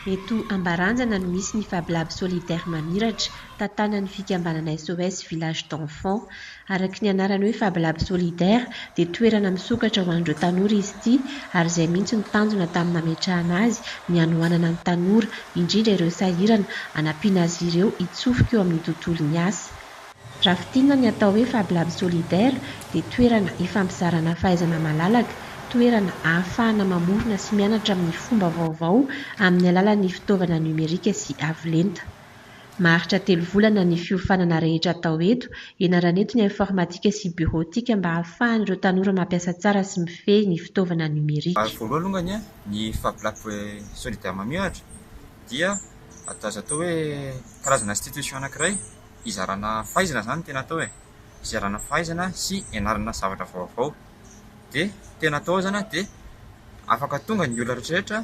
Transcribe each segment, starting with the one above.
Eto Ambaranjana no misy ny Fab Lab Solidaire Mamiratra, tantanan'ny fikambanana SOS Village d'Enfants. Araka ny anarany hoe Fab Lab Solidaire dia toerana misokatra ho an'ireo tanora izy ity ary izay mihitsy no tanjona tamin'ny nametrahana azy ny hanohanana ny tanora, indrindra ireo sahirana, hanampiana azy ireo hitsofoka eo amin'ny tontolon'ny asa. Raha fintinina ny atao hoe Fab Lab Solidaire dia toerana ifampizarana fahaizana malalaka, toerana ahafahana mamorona sy mianatra amin'ny fomba vaovao amin'ny alalan'ny fitaovana nomerika sy avo lenta. Maharitra telo volana ny fiofanana rehetra atao eto, ianarana eto ny informatika sy bureautique mba hahafahan'ireo tanora mampiasa tsara sy mifehy ny fitaovana numérique. Voaloha alongany a, ny Fab Lab Solidaire Mamihatra dia atao azo atao hoe karazana institution anankiray hizarana fahaizana zany ny tena atao e, hizarana fahaizana sy hianarana zavatra vaovao, dia tena atao ao zany a dia afaka tonga ny olona rehetra rehetra,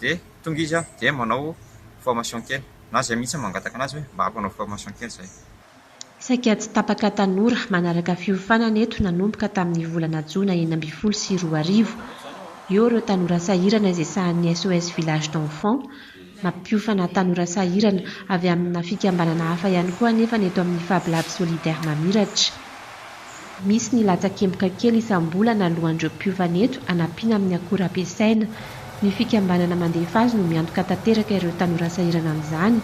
dia tonga izy dia manao formation kely na izay mihitsy no mangataka an'azy hoe mba ampanao formation kely izay. Saika tsy tapaka tanora manaraka fiofanana eto nanomboka tamin'ny volana jona enina ambin'ny folo sy roa arivo. Eo ireo tanora sahirana izay sahan'ny SOS Village d'Enfants. Mampiofana tanora sahirana avy amina fikambanana hafa ihany koa anefa ny eto amin'ny Fab Lab Solidaire Mamiratra. Misy ny latsakemboka kely isam-bolana alohan'ireo mpiofana eto hanampiana amin'ny akora ampiasaina. Ny fikambanana mandefa azy no miantoka tanteraka ireo tanora sahirana amin'izany.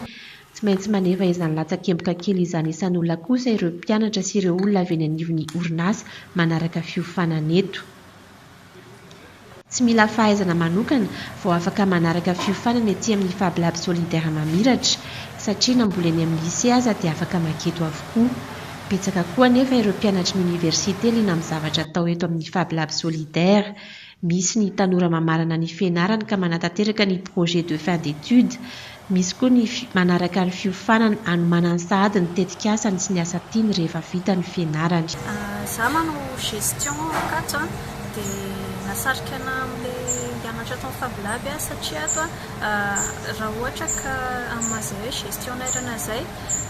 Tsy maintsy manefa izany latsakemboka kely izany isan'olona kosa ireo mpianatra sy ireo olona avy eny anivon'ny orinasa manaraka fiofanana eto. Tsy mila fahaizana manokana vao afaka manaraka fiofanana ety amin'ny Fab Lab Solidaire Mamiratra, satria na mbola eny amin'ny Lycée aza dia afaka maka eto avokoa. Betsaka koa anefa ireo mpianatry ny Oniversite liana amin'ny zavatra atao eto amin'ny Fab Lab Solidaire. Misy ny tanora mamarana ny fianarany ka manatanteraka ny projet de fin d'études, Misy koa ny manaraka ny fiofanana hanomanany sahady ny tetikasany sy ny asa tiany rehefa vita ny fianarany. Za manao gestion ao Ankatso a, de nasarika ana amle hianatra ato am Fab Lab a satria ato a ra ohatra ka am maha zay hoe gestion nairana zay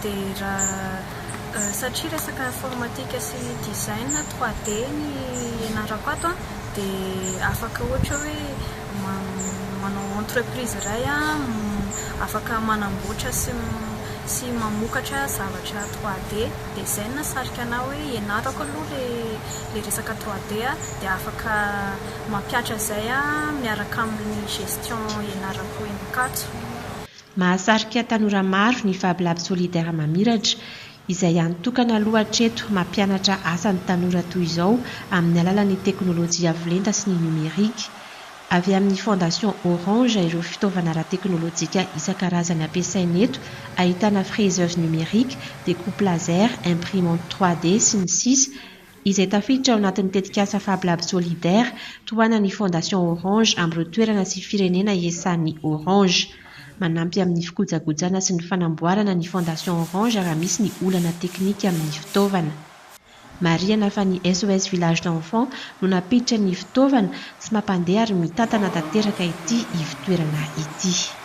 de ra satria resaka informatique sy design trois D ny ianarako ato a de afaka ohatra hoe manao entreprise iray afaka manamboatra sy mamokatra zavatra trois D dia izay no nahasarika anah hoe ianarako aloha ilay resaka trois D dia afaka mampihatra izay aho miaraka amin'ny gestion ianarako eny Ankatso. Mahasarika tanora maro ny FabLab Solidaire Mamiratra, izay hany tokana aloha hatreto mampianatra asa ny tanora toy izao amin'ny alalan'ny teknolojia avo lenta sy ny nomerika. Avy amin'ny Fondation Orange ireo fitaovana ara-teknolojika isan-karazany ampiasaina eto, ahitana fraiseuse numérique, découpe laser, imprimante trois D, sy ny sisa, izay tafiditra ao anatin'ny tetikasa Fab Lab Solidaire tohanan'ny Fondation Orange amin'ireo toerana sy firenena iasan'ny Orange. Manampy amin'ny fikojakojana sy ny fanamboarana ny Fondation Orange raha misy ny olana teknika amin'ny fitaovana. Marihana fa ny SOS Village d'Enfants no nampiditra ny fitaovana sy mampandeha ary mitantana tanteraka ity ivo-toerana ity.